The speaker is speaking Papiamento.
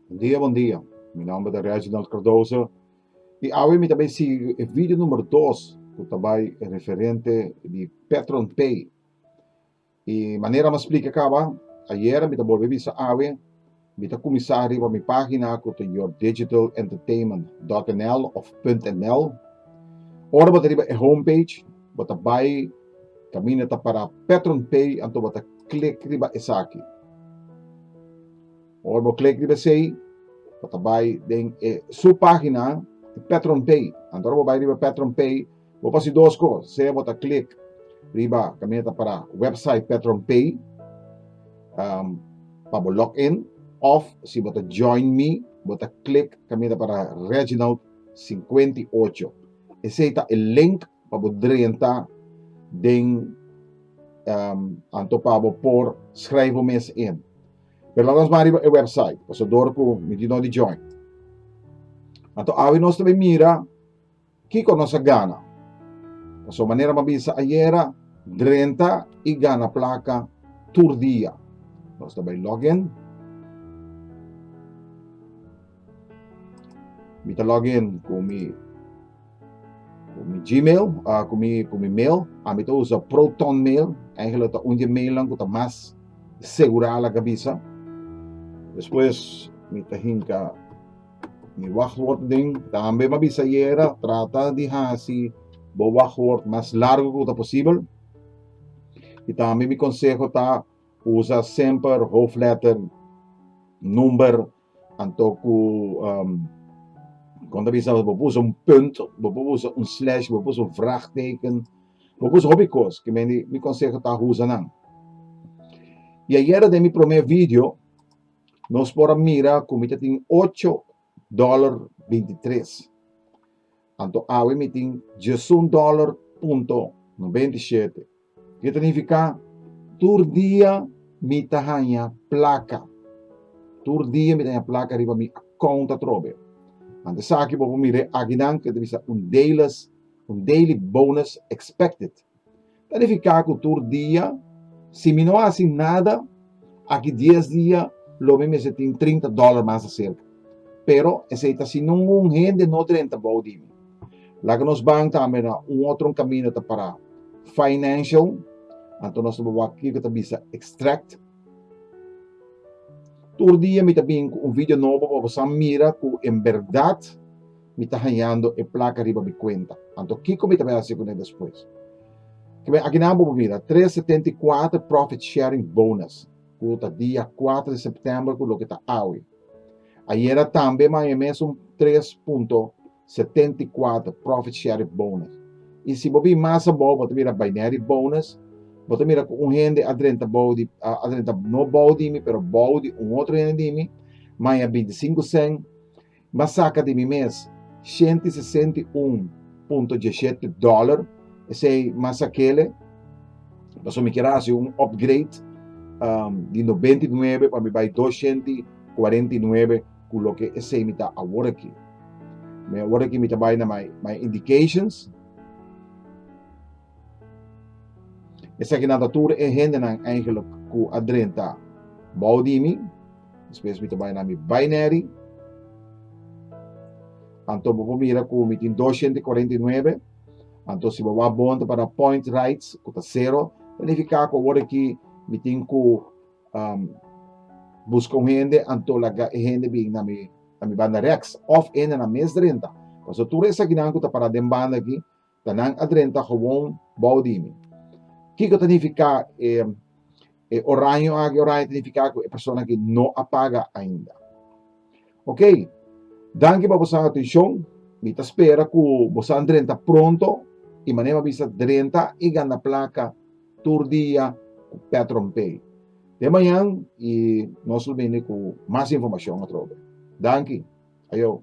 Bon dia bon dia mi nomber ta Reginald Cardoso y awe mi ta bay sigui e video number dos cu ta bay referente di Petron Pay. I manera mas splike kaba, ayera mi ta bolbe bisa awe, mi ta kuminsá riba mi página ku ta yourdigitalentertainment.nl òf .nl. Ora bo ta riba e homepage, bo ta bai kaminda ta para Petron Pay, anto bo ta klik riba esaki. Ora bo klik riba esei, bo ta bai den e su página Petron Pay. Anto ora bo bai riba Petron Pay, Bo por hasi dos cos, sea bo ta click riba caminda ta para website PetronPay um, pa bo log in, of si bo ta join me, bo ta click caminda ta para Reginald 58. Esey ta e link pa bo drenta den um, anto pa bo por schrijf bo mes in. Pero laat ons van riba e website, paso door ku mi di no di join. Anto awi nos ta mira Kiko nos a gana? Pasobra manera m'a bisa ayera, drenta i gana plaka tur dia. Nos ta bai login. Mi ta login ku mi ku mi Gmail, uh, ku mi ku mi mail. Ami ta usa Proton Mail. Eigenlijk ta un di mailnan ku ta mas segura la ka bisa. Despues mi ta hinka Mi wachtwoord den tambe bo a bisa yera trata di hasi bo wachtwoord mas largo ku ta posibel. I tambe mi konseho ta usa semper hoofdletter number anto ku um, kon ta bisa bo usa un punt, bo usa un slash, bo usa un vraachteken, bo usa hopi kos ke mi konseho ta usa nan. I ayera den mi prome video Nos por a mira cu mi ta tin ocho dollar bintitres. Anto awe mi tin diesun dollar punto nobenta i shete. Kiko ta nifica? Tur dia mi ta haya placa. Tur dia mi ta haya placa riba mi account atrobe. Ante esaki bo por mira e aki nan cu ta bisa un dailys, un daily bonus expected. Ta di fiká ku tur dia, si mi no hasi nada aki dies dia lo mi mester tin trinta dòler mas aserka. Pero esei ta si ningun hende no drenta bou di mi. Laga nos ban tambe na un otro kaminda ta pará financial, anto nos ta bai wak kiko ta bisa extract. Tur dia mi ta bin ku un video nobo pa boso a mira ku en bèrdat, mi ta hañando e plaka riba mi kuenta. Anto kiko mi ta bai hasi kuné despues? Kiben, aki nan bo por mira, Tres setenta i kuater Profit Sharing Bonus, ku ta dia kuater di sèptèmber ku loke ta awe. Ayera tambe m'a haña e mesun tres punto setenta i kuater Profit Sharing Bonus. I si bo bin mas abou, bo ta mira Binary Bonus, bo ta mira ku un hende a drenta bou di, a drenta no bou di mi, pero bou di un otro hende di mi, m'a haña binti sinku sèn, M'a saca di mi mes shenti sesenta i un punto dieshete dollar, esey m'a saquele paso mi kier a haci un upgrade di nobenta i nuebe pa mi bay dos shenti cuarenta i nuebe cu loke esey mi ta aworaki. Mi aworaki mi ta bay na my indications. Esakinan ta tur e hendenan eigenlijk ku a drenta bou di mi. Despues mi ta bai na mi baineri. Anto bo por mira ku mi tin 249. Anto si bo wak bon ta para point rights ku ta sero, ta nifiká ku awor aki mi tin ku um, buska un hende anto laga e hende bin na mi na mi banda reks òf e hendenan mes drenta. Paso tur esakinan ku ta para den banda aki Ta nan a drenta gewoon bou di mi. Kiko ta nifiká e e oraño aki? Oraño ta nifiká ku e persona aki no a paga ainda. Oke, danki pa boso atuishon. Mi ta spera ku bo sa drenta pronto i manera mi bisa drenta i gana plaka tur dia ku PetronPay. Te mañan i nos lo bini ku mas informashon atrobe. Danki. Ayo.